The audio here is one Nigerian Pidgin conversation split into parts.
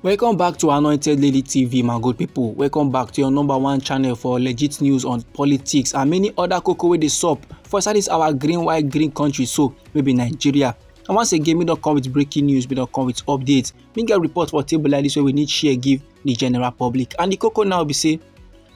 Welcome back to Anointed Lady TV, my good people. Welcome back to your number one channel for legit news on politics and many other cocoa wey dey sup for inside this our green white green country so wey be Nigeria. And once again, we don come with breaking news, we don come with updates. We get report for table like this wey we need share give the general public. And the cocoa now be say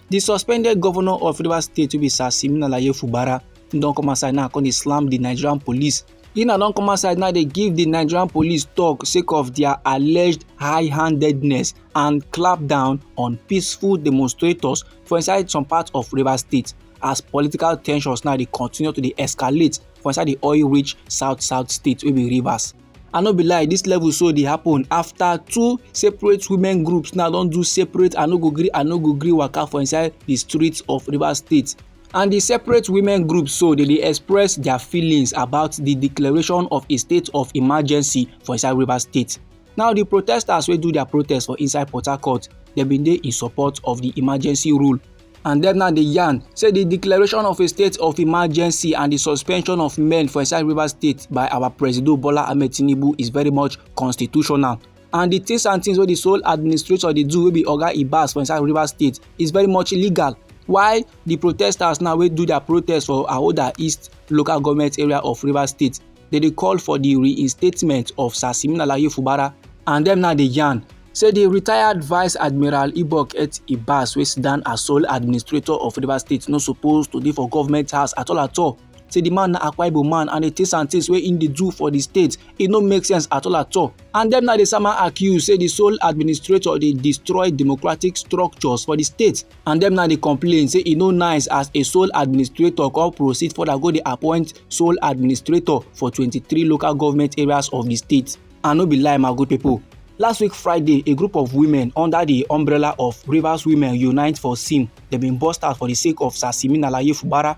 the suspended governor of Rivers State wey be Sir Simina Laye Fubara don come outside now come dey slam the Nigerian police Ina don come outside now dey give di Nigerian police tok sake of dia alleged high-handedness and clampdown on peaceful demonstrators for inside some parts of Rivers State as political tensions now dey continue to dey escalate for inside di oil-rich south-south state wey be Rivers. I no be lie, dis level so dey happen after two separate women groups now don do separate I no go gree I no go gree waka for inside di streets of Rivers State and di separate women groups so dey dey express dia feelings about di declaration of a state of emergency for inside rivers state now di protesters wey do dia protest for inside port harcourt dem bin dey in support of di emergency rule and dem now dey yarn say di declaration of a state of emergency and di suspension of men for inside rivers state by our presido bola ahmed tinubu is very much constitutional and the things and things wey the sole administrator dey do wey be oga ibas for inside rivers state is very much illegal while the protesters now wey do their protest for ahoda east local government area of rivers state dey dey call for the reinstatement of sir simeon alaye fubara and dem now dey yarn say the retired vice admiral ibok et ibas wey sit down as sole administrator of rivers state no suppose to dey for government house at all at all say the man na Akwa Ibom man and the things and things wey im dey do for the state e no make sense at all at all and dem na dey sama accuse say the sole administrator dey destroy democratic structures for the state and dem na dey complain say e no nice as a sole administrator come proceed further go dey appoint sole administrator for 23 local government areas of the state and no be lie my good people Last week Friday, a group of women under the umbrella of Rivers Women Unite for Sim, they been bust out for the sake of Sasimi Nalaye Fubara,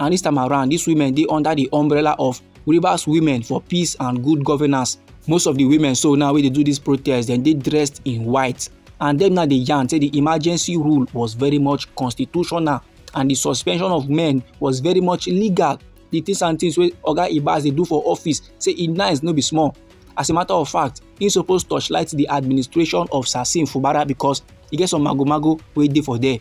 and this time around these women dey under the umbrella of rivers women for peace and good governance most of the women so now wey dey do this protest dem dey dressed in white and dem now dey yarn say the emergency rule was very much constitutional and the suspension of men was very much legal the things and things wey oga ibas dey do for office say e nice no be small as a matter of fact he suppose torchlight the administration of sasim fubara because e get some magomago wey dey for there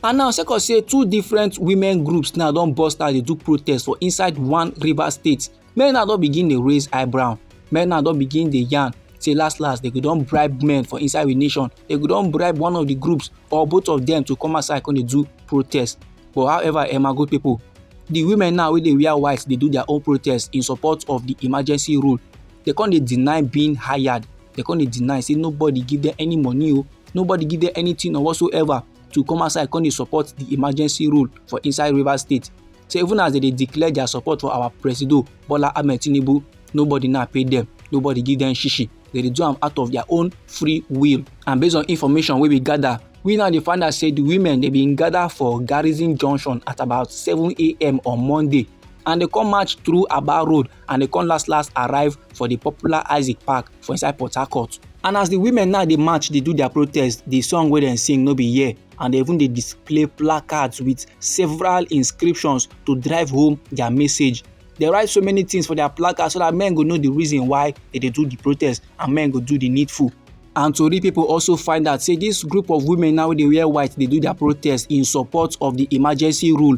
And now, sake of say two different women groups now don burst out dey do protest for inside one Rivers state, men now don begin dey raise eyebrow, men now don begin dey yarn say last last they go don bribe men for inside we nation, they go don bribe one of the groups or both of them to come outside come dey do protest. But however, Emma good people, the women now wey dey wear white dey do their own protest in support of the emergency rule. They come dey deny being hired, they come dey deny say nobody give them any money o, oh, nobody give them anything or whatsoever. to come outside come dey support the emergency rule for inside rivers state say even as they dey declare their support for our presido bola ahmed tinubu nobody now pay them nobody give them shishi they dey do am out of their own free will and based on information wey we gather we now dey find out say the women dey bin gather for garrison junction at about 7am on monday and they come march through aba road and e come last last arrive for di popular isaac park for inside port harcourt and as di women now dey march dey do dia protest di song wey dem sing no be here and dem even dey display placards wit several inscriptions to drive home dia message dem write so many tins for dia placards so dat men go know di reason why dem dey do di protest and men go do di needful and tori pipo also find out say dis group of women now wey dey wear white dey do dia protest in support of di emergency rule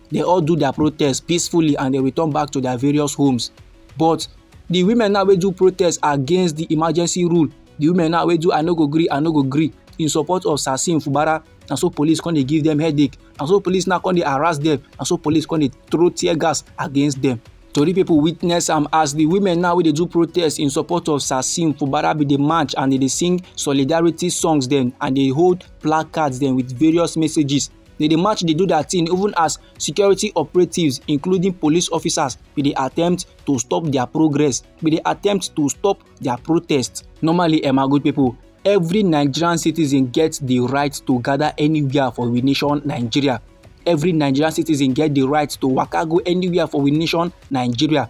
they all do their protest peacefully and they return back to their various homes but the women now wey do protest against the emergency rule the women now wey do i no go gree i no go gree in support of sasin fubara na so police come dey give them headache na so police now come dey harass them na so police come dey throw tear gas against them tori pipo witness am as di women now wey dey do protest in support of sassim fubara bin dey march and dey dey sing solidarity songs dem and dey hold placards dem with various messages They dey match dey do their thing even as security operatives including police officers bin dey attempt to stop their progress, bin dey attempt to stop their protest. Normally um my good people, every Nigerian citizen get the right to gather anywhere for we nation Nigeria. Every Nigerian citizen get the right to waka go anywhere for we nation Nigeria.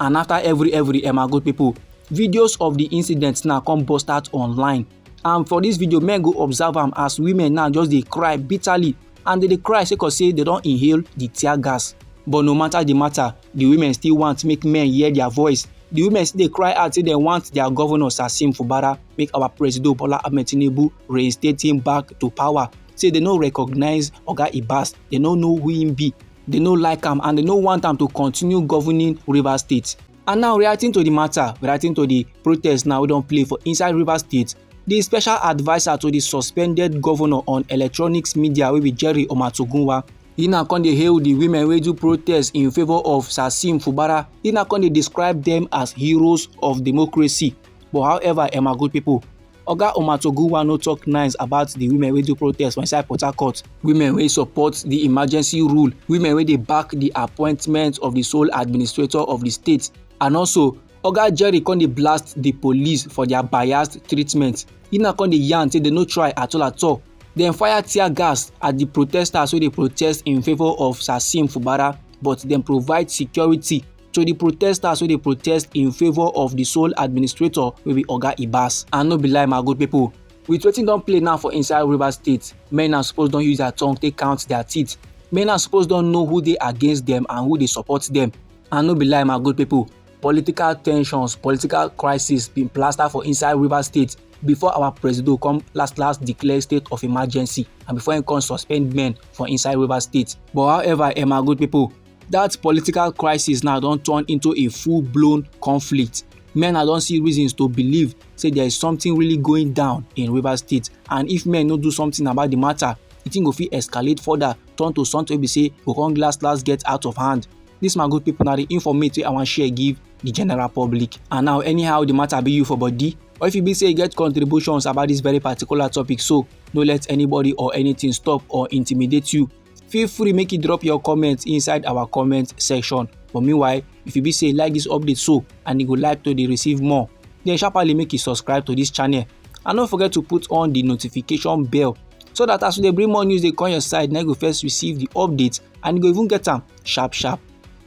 and after every every eh my good people videos of the incident now come burst out online and for this video men go observe am as women now just dey cry bitterly and they dey cry sake of say they don inhale the tear gas but no matter the matter the women still want make men hear their voice the women still dey cry out say they want their governor sasim fubara make our president bola ahmed tinubu reinstate him back to power say they no recognize oga ibas they no know who him be They no like am and they no want am to continue governing Rivers State. And now reacting to the matter, reacting to the protest now we don play for inside Rivers State, the special adviser to the suspended governor on electronics media wey be Jerry Omatogunwa He now come dey hail the women wey do protest in favour of Sasim Fubara. He now come dey describe them as heroes of democracy. But however, Emma good people, Oga Omatogunwa no talk nice about the women wey do protest for inside Port Harcourt, women wey support the emergency rule, women wey dey back the appointment of the sole administrator of the state and also Oga Jerry come dey blast the police for their biased treatment. He now come dey yarn say they no try at all at all. Dem fire tear gas at the protesters wey dey protest in favour of Sasim Fubara but dem provide security to di protesters wey dey protest in favour of di sole administrator wey be oga ibas and no be lie my good pipo with wetin don play now for inside rivers state men na suppose don use their tongue take count their teeth men na suppose don know who dey against dem and who dey support dem and no be lie my good pipo political tensions political crisis bin plaster for inside rivers state before our presido come last last declare state of emergency and before im come suspend men for inside rivers state but however eh my good pipo that political crisis now don turn into a full-blown conflict men now don see reasons to believe say there is something really going down in rivers state and if men no do something about the matter the thing go fit escalate further turn to something wey be say go come last last get out of hand this my good people na the informate wey i wan share give the general public and now anyhow the matter be you for body or if you be say you get contributions about this very particular topic so no let anybody or anything stop or intimidate you feel free make you drop your comment inside our comment section but meanwhile if you be say like this update so and you go like to dey receive more then sharply make you subscribe to this channel and don't forget to put on the notification bell so that as we dey bring more news dey come your side na you go first receive the update and you go even get am sharp sharp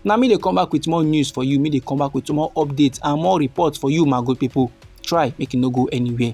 na me dey come back with more news for you me dey come back with more updates and more reports for you my good people try make you no go anywhere.